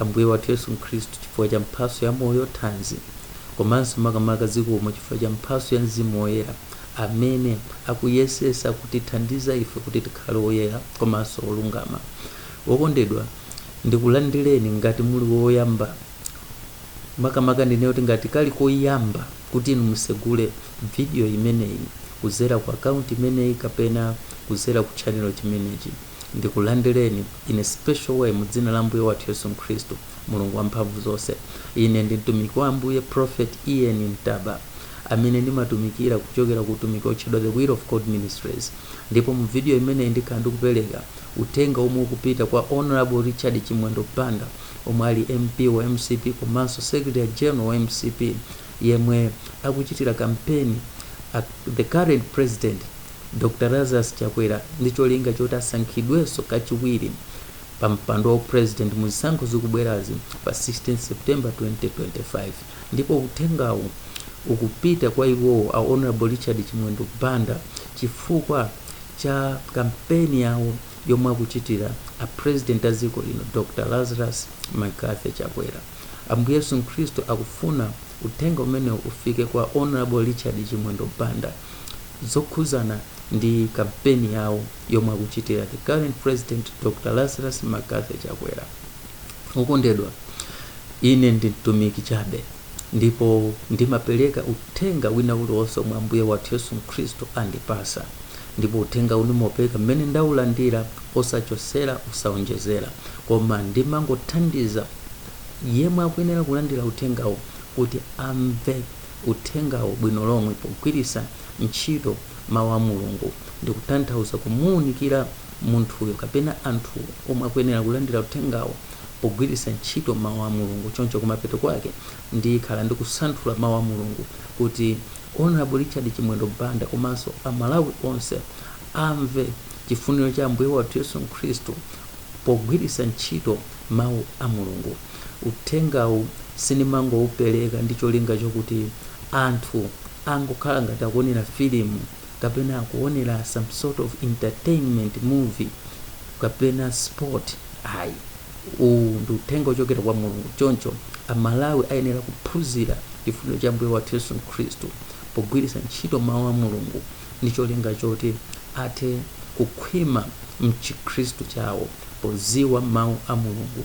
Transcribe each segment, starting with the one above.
Ambuye wathu Yesu Khristu chifukwa cha mphatso ya moyo, thanzi komanso makamaka zikomo chifukwa cha mphatso ya Mzimu Woyera amene akuyesesa kutithandiza ife kuti tikhale oyera komanso olungama. Wokondedwa, ndikulandireni ngati muli woyamba makamaka ndinene kuti ngati kali koyamba kuti inu musegule video imeneyi kuzera ku account imeneyi kapena kuzera ku channel chimenechi. Ndikulandireni, in a special way, mu Dzina la Ambuye wathu Yesu Khristu, Mulungu Wamphamvuzonse. Ine ndi mtumiki wa Ambuye, Prophet E.N. Ntaba, amene ndimatumikira kuchokera ku utumiki wotchedwa The Will of God Ministries. Ndipo mu video imeneyi ndikhala ndikupereka uthenga omwe ukupita kwa Honorable Richard Chimwendo Banda, omwe ali MP wa mcp komanso Secretary General wa mcp, yemwe akuchitira kampeni a, the current president, Dr Lazarus Chakwera ndi cholinga choti asankhidwenso kachiwiri pa mpando wa u President mu zisankho zikubwerazi pa 16 September 2025 ndipo uthengawu ukupita kwa iwowo a Hon Richard Chimwendo Banda chifukwa cha kampeni yawo yomwe akuchitira a President a dziko lino Dr Lazarus McCarthy Chakwera. Ambuye Yesu Khristu akufuna uthenga umenewu ufike kwa Hon Richard Chimwendo Banda. zokhudzana ndi kampeni yawo yomwe akuchitira the current president Dr. Lazarus McCarthy Chakwera. Okondedwa, ine ndi mtumiki chabe ndipo ndimapereka uthenga wina uliwonse omwe Ambuye wathu Yesu Khristu andipasa ndipo uthenga ndimaupereka mmene ndaulandira osachosera osaonjezera koma ndimangothandiza yemwe akuyenera kulandira uthengawo kuti amve uthengawo bwino lomwe pogwiritsa ntchito Mau a Mulungu ndi kutanthauza kumuunikira munthuyo kapena anthuwo omwe akuyenera kulandira uthengawo pogwiritsa ntchito Mau a Mulungu. Choncho kumapeto kwake ndikhala ndikusanthula Mau a Mulungu kuti Hon Richard Chimwendo Banda komanso a Malawi onse amve chifuniro cha Ambuye wathu Yesu Khristu pogwiritsa ntchito Mau a Mulungu. Uthengawu sindimangoupereka ndi cholinga chokuti anthu angokhala ngati akuonera filimu kapena akuonera some sort of entertainment movie kapena sport ayi. Uwu ndi uthenga wochokera kwa Mulungu choncho Amalawi ayenera kuphunzira chifuniro cha Ambuye wathu Yesu Khristu pogwiritsa ntchito Mawu a Mulungu ndi cholinga choti athe kukhwima m'Chikhristu chawo podziwa Mawu a Mulungu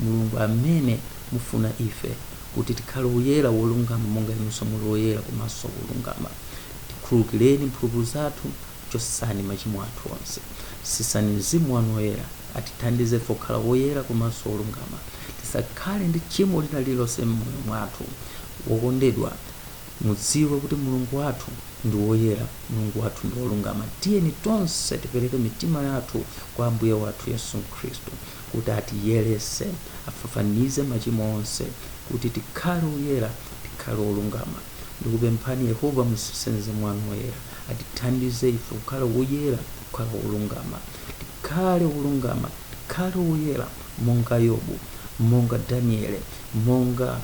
Mulungu amene mufuna ife kuti tikhale woyera, wolungama, monga inunso muli woyera komanso wolungama. Tikhululukireni mphulupulu zathu, chotsani machimo athu onse. Sisani Mzimu wanu Woyera, atithandize ife kukhala woyera komanso wolungama. Tisakhale ndi tchimo lina lililonse m'moyo mwathu. Wokondedwa, mudziwe kuti Mulungu wathu ndi woyera, Mulungu wathu ndi wolungama. Tiyeni tonse tipereke mitima yathu kwa Ambuye wathu Yesu Khristu. kuti atiyeretse, afafanize machimo onse, kuti tikhale oyera, tikhale olungama. Ndikupemphani, Yehova, mutsitse Mzimu wanu Woyera, atithandize ife kukhala oyera, kukhala olungama, tikhale olungama, tikhale oyera, monga Yobu, monga Daniele, monga,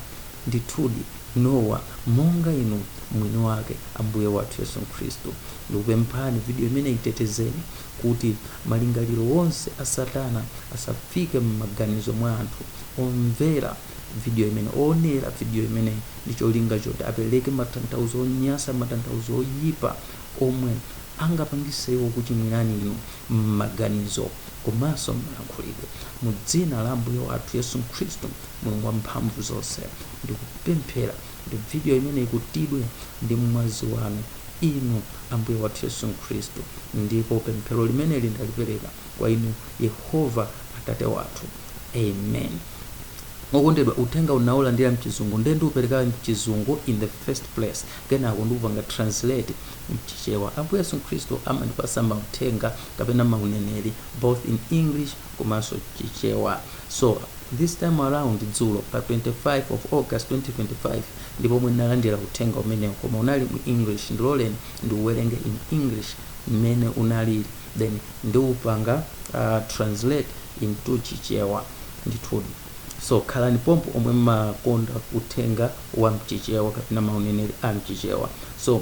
ndithudi, Nowa, monga Inu Mwiniwake, Ambuye wathu Yesu Khristu. Ndikupemphani, video imeneyi itetezeni, kuti malingaliro onse a Satana asafike m'maganizo mwa anthu omvera vidiyo imene oonera vidiyo imeneyi ndi cholinga choti apereke matanthauzo onyansa, matanthauzo oyipa omwe angapangise iwo kukuchimwirani inu m'maganizo komanso m'malankhulidwe. Mu dzina la Ambuye wathu Yesu Khristu, Mulungu Wamphamvuzonse, ndikupemphera. kuti video imeneyi ikutidwe ndi mwazi wanu inu ambuye wathu yesu khristu ndipo pemphero limeneli ndalipereka kwa inu yehova atate wathu amen okondedwa uthengawu ndinaulandira mchizungu nde ndiupereka mchizungu in the first place kenako ndikupanga translate mchichewa ambuye yesu khristu amandipasa mauthenga kapena mauneneri both in english komanso chichewa so This time around, dzulo pa 25 of August 2025, ndi pomwe ndinalandira uthenga umenewu koma unali mu English, ndiloleni ndiuwerenge in English mmene unaliri then ndiupanga translate into Chichewa. Ndithudi. So, khalani pompo omwe mmakonda uthenga wa mchichewa kapena mauneneri a mchichewa. So.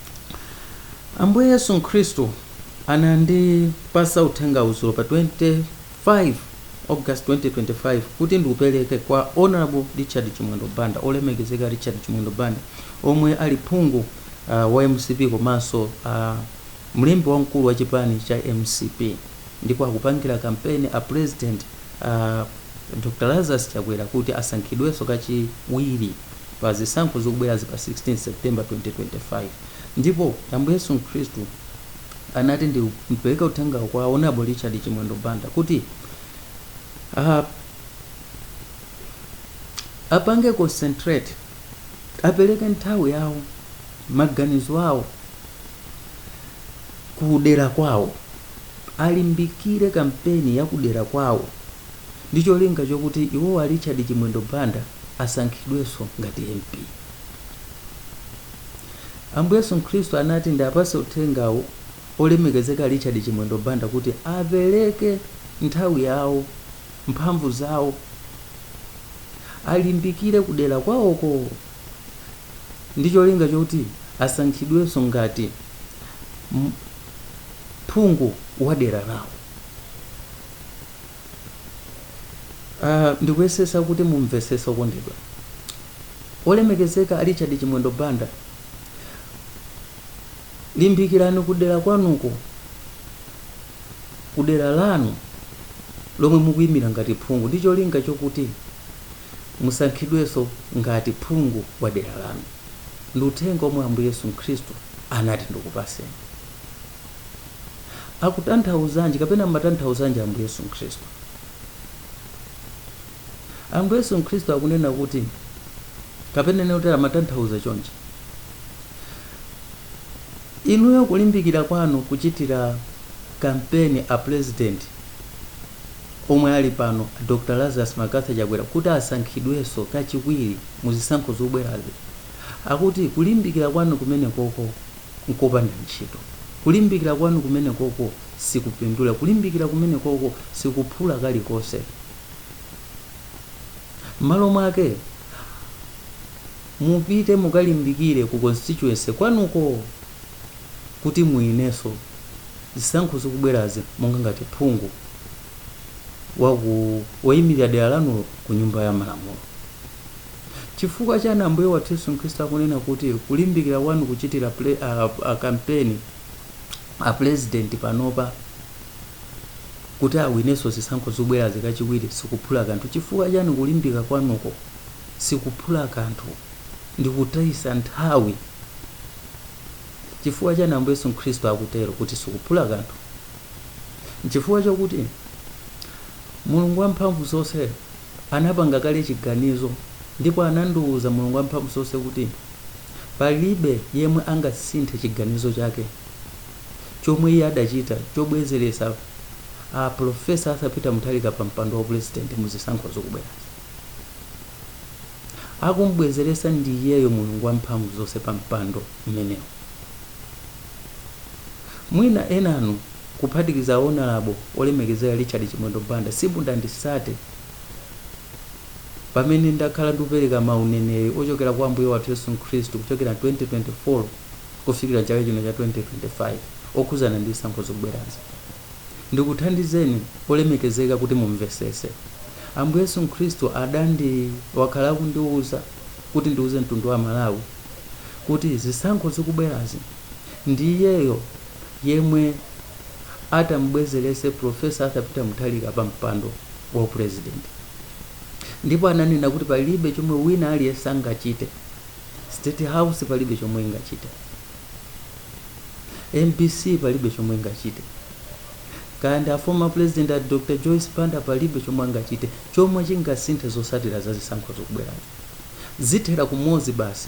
Ambuye Yesu Khristu anandipasa uthengawu dzulo pa 25 August 2025 kuti ndiupereke kwa Honorable Richard Chimwendo Banda, Olemekezeka Richard Chimwendo Banda, omwe ali phungu uh, wa mcp komanso uh, mlembi wamkulu wa chipani cha mcp ndipo akupangira kampeni a president uh, Dr. Lazarus Chakwera kuti asankhidwenso kachiwiri. pa zisankho zikubwerazi pa 16 September 2025 ndipo Ambuye Yesu Khristu anati ndipereke uthengawu kwa Honorable Richard Chimwendo Banda kuti ah, apange concentrate apereke nthawi yawo maganizo awo kudera kwawo alimbikire kampeni ya kudera kwawo ndi cholinga chokuti iwo a Richard Chimwendo Banda asankhidwenso ngati MP. Ambuye Yesu Khristu anati ndiapatse uthengawu olemekezeka Richard Chimwendo Banda kuti apereke nthawi yawo, mphamvu zawo, alimbikire kudera kwawoko ndi cholinga choti asankhidwenso ngati m- phungu wa dera lawo. Uh, ndikuyesesa kuti mumvesese okondedwa olemekezeka a richard chimwendo banda limbikirani kudera kwanuko kudera lanu lomwe mukuyimira ngati phungu ndi cholinga chokuti musankhidwenso ngati phungu wa dera lanu ndi uthenga omwe ambuye yesu khristu anati ndikupaseni akutanthauzanji kapena amatanthauzanji Ambuye Yesu Mkhristu? Ambuye Yesu Mkhristu akunena kuti kapena ndinene kuti amatanthauza chonchi. Inuyo kulimbikira kwanu kuchitira kampeni a president omwe ali pano Dr. Lazarus McCarthy Chakwera kuti asankhidwenso kachiwiri mu zisankho zobwerazi. Akuti kulimbikira kwanu kumenekoko nkopanda ntchito. Kulimbikira kwanu kumenekoko sikupindula. Kulimbikira kumenekoko sikuphula kalikonse. M'malo mwake, mupite mukalimbikire ku constituency kwanuko kuti muwinenso zisankho zikubwerazi monga ngati phungu wa ku woyimilira dera lanulo ku Nyumba ya Malamulo. Chifukwa chani Ambuye wathu Yesu Khristu akunena kuti kulimbikira kwanu kuchitira ple, a, a, kampeni a pulezidenti panopa kuti awinenso zisankho zikubwerazi kachiwiri sikuphula kanthu? Chifukwa chani kulimbika kwanuko sikuphula kanthu ndi kutayisa nthawi? Chifukwa chani Ambuye Yesu Khristu akutero kuti sikuphula kanthu? Nchifukwa chakuti Mulungu wamphamvu zonse anapanga kale chiganizo ndipo anandiuza Mulungu Wamphamvuzonse kuti palibe yemwe angasinthe chiganizo chake chomwe iye adachita chobwezeretsa a Professor Arthur Peter Mutharika pa mpando wa President mu zisankho zikubwerazi. Akumbwezeretsa ndi iyeyo Mulungu Wamphamvuzonse pa mpando umenewu. Mwina enanu kuphatikiza Onalabo olemekezeka Richard Chimwendo Banda simudandisate pamene ndakhala ndikupereka ma uneneri ochokera kwa Ambuye wathu Yesu Khristu kuchokera 2024 kufikira chaka chino cha 2025 okhuzana ndi zisankho zikubwerazi. Ndikuthandizeni olemekezeka kuti mumvesese. Ambuye Yesu Khristu adandi wakhala akundiuza kuti ndiuze mtundu wa Amalawi kuti zisankho zikubwerazi, Ndi iyeyo yemwe atam'bwezeretse Prof. Arthur Peter Mutharika pa mpando wa u President. Ndipo ananena kuti palibe chomwe wina aliyense angachite. State House palibe chomwe ingachite. Mbc palibe chomwe ingachite. Kaya ndi a former President a Dr. Joyce Banda palibe chomwe angachite chomwe chingasinthe zotsatira za zisankho zikubwerazi. Zithera kumodzi basi.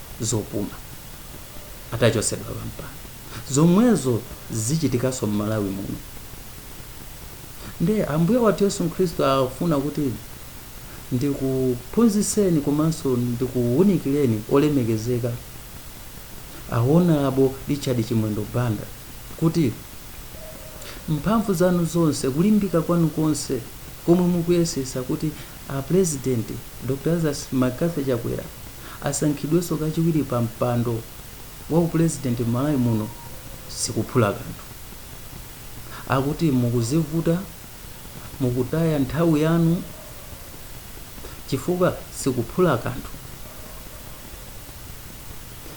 zopuma atachosedwa pampando zomwezo zichitikanso mmalawi muno nde ambuye wathu yesu khristu afuna kuti ndikuphunzitseni komanso ndikuwunikireni olemekezeka a Onalabo richard chimwendo banda kuti mphamvu zanu zonse kulimbika kwanu konse komwe mukuyesesa kuti A president, Dr Lazarus McCarthy Chakwera asankhidwenso kachiwiri pa mpando wa u president m'Malawi muno sikuphula kanthu. Akuti mukuzivuta, mukutaya nthawi yanu chifukwa sikuphula kanthu.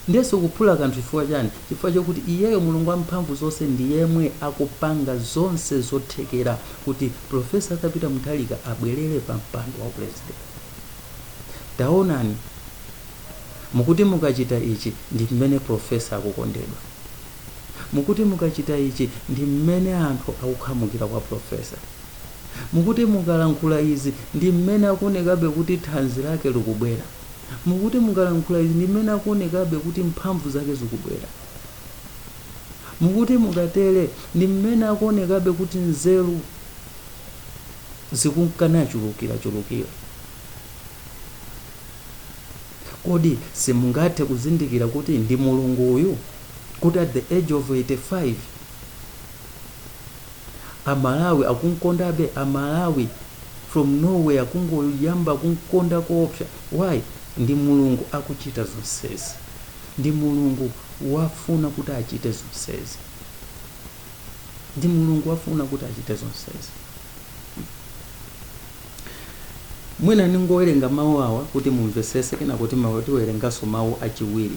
Ndiye sikuphula kanthu chifukwa chani? Chifukwa chokuti iyeyo Mulungu wamphamvu zonse ndi yemwe akupanga zonse zothekera kuti Prof. Arthur Peter Mutharika abwelere pa mpando wa President. Taonani, mukuti mukachita ichi ndi mmene Prof. akukondedwa. Mukuti mukachita ichi ndi mmene anthu akukhamukira kwa Prof. Mukuti mukalankhula izi ndi mmene akuonekabe kuti thanzi lake likubwera. Mukuti mukalankhula izi ndi mmene akuonekabe kuti mphamvu zake zikubwera. Mukuti mukatele ndi mmene akuonekabe kuti nzeru zikunkanachulukirachulukira. Kodi simungathe kuzindikira kuti ndi Mulungu uyu? Kuti at the age of 85 amalawi akumkondabe amalawi from nowhere kungoyamba kumkonda koopsa why ndi mulungu akuchita zonsezi ndi mulungu wafuna kuti achite zonsezi ndi mulungu wafuna kuti achite zonsezi mwina ndingowerenga mawu awa kuti mumvesese kenaka kuti tiwerenganso mawu achiwiri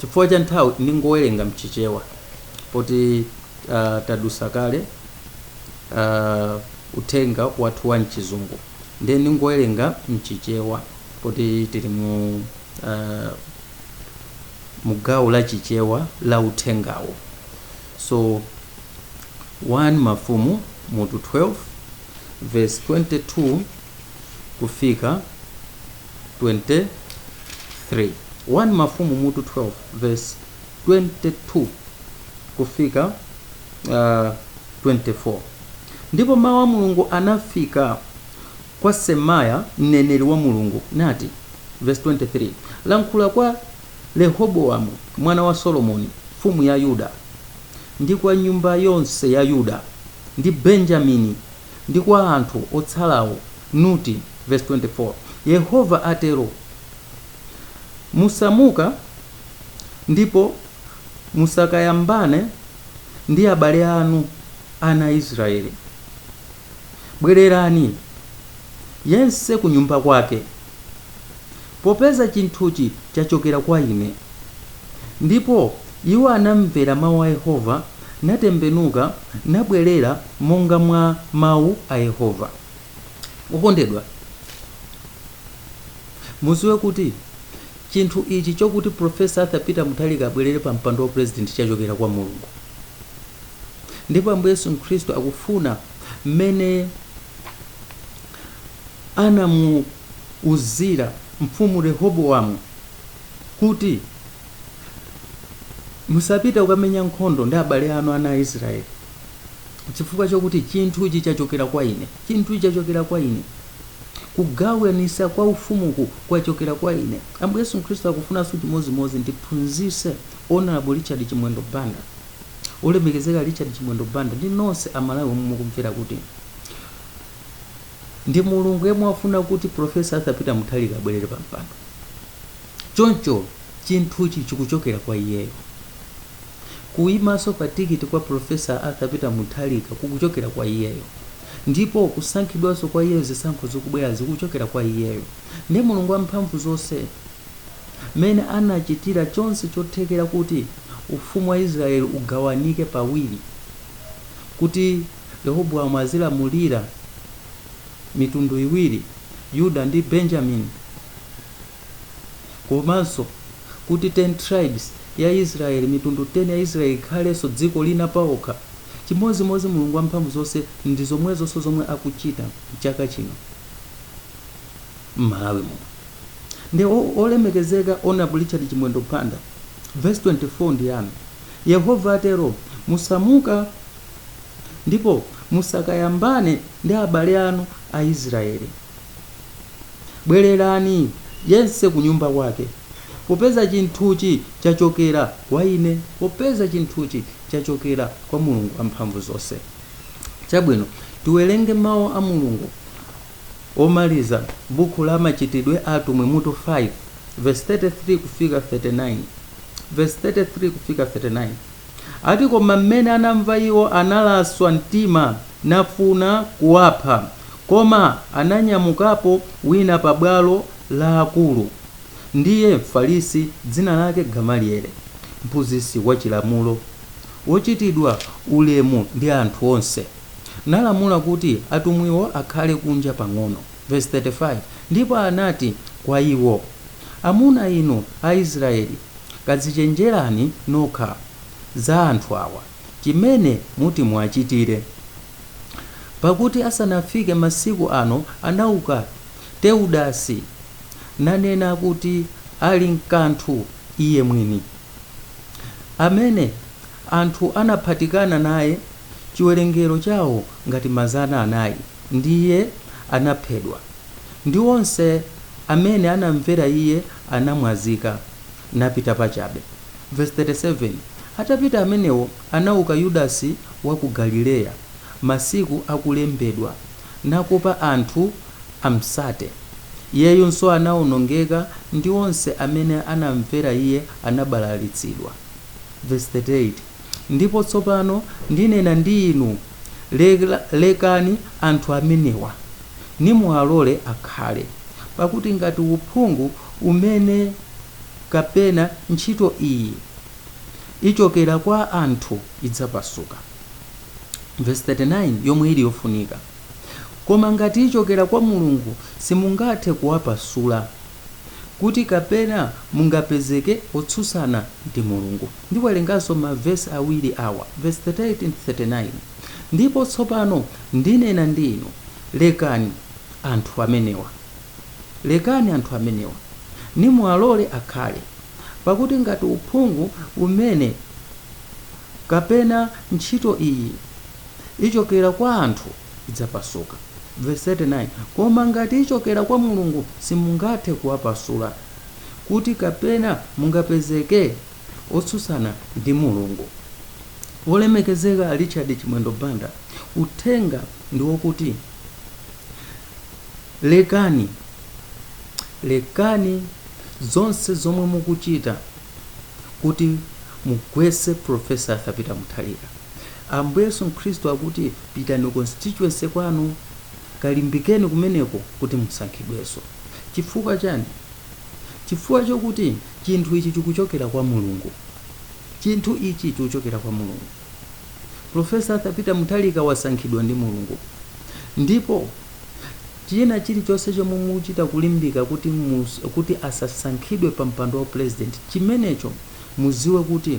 chifukwa cha nthawi ndingowerenga mchichewa poti uh, tadusa kale uh, uthenga wathu wa mchizungu ndiye ndingowerenga mchichewa poti tili mu uh, mugawo la chichewa la uthengawo so 1 mafumu mutu 12 verse 22 kufika 23 1 mafumu mutu 12 verse 22 kufika uh, 24 ndipo mawu a mulungu anafika kwa semaya mneneri wa mulungu nati verse 23 lankhula kwa rehobowamu mwana wa solomoni mfumu ya yuda ndi kwa nyumba yonse ya yuda ndi benjamini ndi kwa anthu otsalawo, kuti, vesi 24, Yehova atero, Musamuka, ndipo musakayambane ndi abale anu, ana a Israyeli, bwererani, yense kunyumba kwake. popeza chinthuchi chachokera kwa ine. Ndipo iwo anamvera mawu a Yehova, natembenuka, nabwerera monga mwa mawu a Yehova. Okondedwa, muziwe kuti chinthu ichi chokuti Profesa Arthur Peter Mutharika abwerere pa mpando wa president chachokera kwa Mulungu ndipo Ambuye Yesu Khristu akufuna mmene anamuuzira mfumu Rehobowamu kuti, Musapite kukamenya nkhondo ndi abale anu ana a Isiraeli, chifukwa chakuti chinthuchi chachokera kwa ine, chinthuchi chachokera kwa ine, kugawanisa kwa ufumuku kwachokera kwa ine. Ambuye Yesu Khristu akufunanso chimodzimodzi ndiphunzise Honorable Richard Chimwendo Banda, olemekezeka Richard Chimwendo Banda ndi nonse Amalawi omwe mukumvera kuti ndi mulungu yemwe wafuna kuti profesa arthur peter muthalika abwerere pa mpando choncho chinthuchi chikuchokera kwa iyeyo kuyimanso pa tikiti kwa profesa arthur peter muthalika kukuchokera kwa iyeyo ndipo kusankhidwanso kwa iyeyo zisankho zikubwera zikuchokera kwa iyeyo ndi mulungu wamphamvu zonse mmene anachitira chonse chothekera kuti ufumu wa israeli ugawanike pawiri kuti Rehobowamu azilamulira mitundu iwiri, Yuda ndi Benjamini, komanso kuti 10 tribes ya Israel, mitundu 10 ya Israel ikhalenso dziko lina paokha, chimodzimodzi Mulungu Wamphamvu zonse ndi zomwezonso zomwe akuchita mchaka chino m'Malawi muno. Nde olemekezeka Hon Richard Chimwendo Banda, verse 24 ndi yanu, Yehova atero, musamuka ndipo musakayambane ndi abale anu Aisraele. Bwererani, yense kunyumba kwake, popeza chinthuchi chachokera kwa Ine, popeza chinthuchi chachokera kwa Mulungu Wamphamvuzonse. Chabwino, tiwerenge mau a Mulungu omaliza buku la Machitidwe a Atumwi mutu 5 verse 33 kufika 39 verse 33 kufika 39. Ati koma mmene anamva iwo analaswa mtima nafuna kuwapha koma ananyamukapo wina pa bwalo la akulu ndiye mfarisi dzina lake Gamaliele, mphunzitsi wa chilamulo, wochitidwa ulemu ndi anthu onse, nalamula kuti atumwiwo akhale kunja pang'ono. Vesi 35, Ndipo anati kwa iwo, Amuna inu a Israyeli, kadzichenjerani nokha za anthu awa, chimene muti muwachitire. Pakuti asanafike masiku ano anauka Teudasi, nanena kuti ali nkanthu iye mwini, amene anthu anaphatikana naye chiwerengero chawo ngati mazana anayi. ndi iye anaphedwa, ndi onse amene anamvera iye anamwazika, napita pachabe. Vesi 37, Atapita amenewo anauka Yudasi wa ku Galileya, masiku akulembedwa, nakopa anthu amtsate, iyeyunso anawonongeka, ndi onse amene anamvera iye anabalalitsidwa. Vesi 38. Ndipo tsopano ndinena ndi inu, Lekani anthu amenewa, nimuwalole akhale, pakuti ngati uphungu umene kapena ntchito iyi ichokera kwa anthu idzapasuka, vesi 39 yomwe ili yofunika, koma ngati ichokera kwa Mulungu simungathe kuwapasula. kuti kapena mungapezeke otsutsana ndi Mulungu. Ndiwerenganso ma vesi awiri awa, vesi 38 ndi 39, Ndipo tsopano ndinena ndi inu, lekani anthu amenewa, lekani anthu amenewa, nimuwalole akhale, pakuti ngati uphungu umenewu kapena ntchito iyi ichokera kwa anthu, idzapasuka. Vesi 39, Koma ngati ichokera kwa Mulungu, simungathe kuwapasula, kuti kapena mungapezeke otsutsana ndi Mulungu. Wolemekezeka Richard Chimwendo Banda, uthenga ndi wokuti lekani, lekani zonse zomwe mukuchita. kuti mugwese professor arthur peter mutharika ambuye yesu khristu akuti pitani constituency kwanu kalimbikeni kumeneko kuti musankhidwenso chifukwa chani chifukwa chokuti chinthu ichi chikuchokera kwa mulungu chinthu ichi chikuchokera kwa mulungu professor arthur peter mutharika wasankhidwa ndi mulungu ndipo China chilichonse chomwe mukuchita kulimbika kuti asasankhidwe pa mpando wa upulezidenti chimenecho mudziwe kuti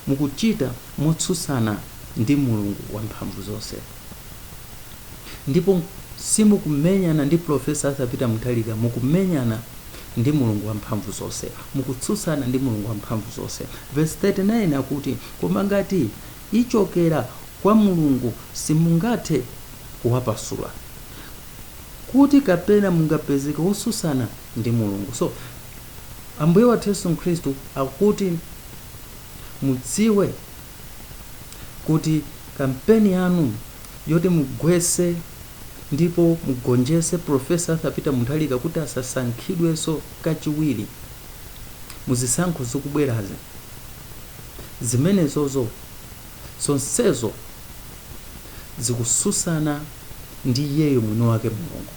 mukuchita motsutsana ndi Mulungu wamphamvu zonse ndipo simukumenyana ndi Prof. Arthur Peter Mutharika mukumenyana ndi Mulungu wamphamvu zonse. Mukutsutsana ndi Mulungu wamphamvu zonse. Verse 39 akuti koma ngati ichokera kwa Mulungu simungathe kuwapasula kuti kapena mungapezeke otsutsana ndi mulungu so ambuye wathu yesu khristu akuti mudziwe kuti kampeni yanu yoti mugwese ndipo mugonjese profesa arthur peter mutharika kuti asasankhidwenso kachiwiri muzisankho zikubwerazi zimenezozo zonsezo zikutsutsana ndi Iyeyo Mwiniwake, Mulungu,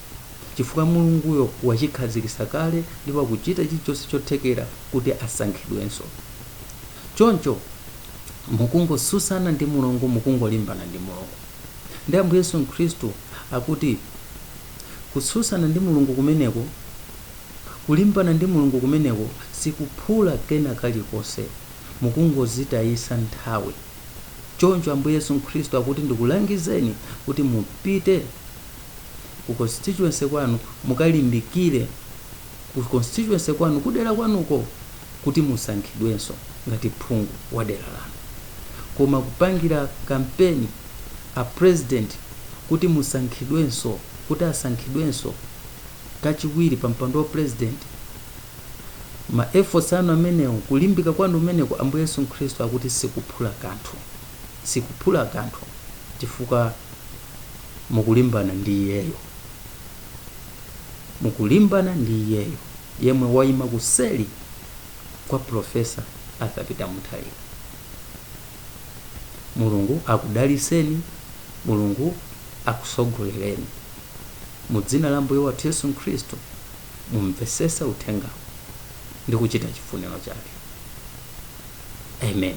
chifukwa Mulunguyo wachikhazikitsa kale ndipo akuchita chilichonse chothekera kuti asankhidwenso. Choncho, mukungotsutsana ndi Mulungu, mukungolimbana ndi Mulungu. Ndi Ambuye Yesu Khristu akuti kutsutsana ndi Mulungu kumeneko, kulimbana ndi Mulungu kumeneko sikuphula kena kalikonse. mukungozitayisa nthawi. Choncho Ambuye Yesu Khristu akuti ndikulangizeni kuti mupite ku constituency kwanu mukalimbikire ku constituency kwanu kudera kwanuko kuti musankhidwenso ngati phungu wa dera lanu. Koma kupangira kampeni a president kuti musankhidwenso kuti asankhidwenso kachiwiri pa mpando wa president, ma efforts anu amenewo kulimbika kwanu kumeneko ambuye yesu khristu akuti sikuphula kanthu sikuphula kanthu chifukwa mukulimbana ndi iyeyo mukulimbana ndi iyeyo yemwe waima kuseli kwa profesa arthur peter mutharika mulungu akudaliseni mulungu akusogolereni mu dzina la mbuye wathu yesu khristu mumvesese uthengawo ndi kuchita chifuniro chake amen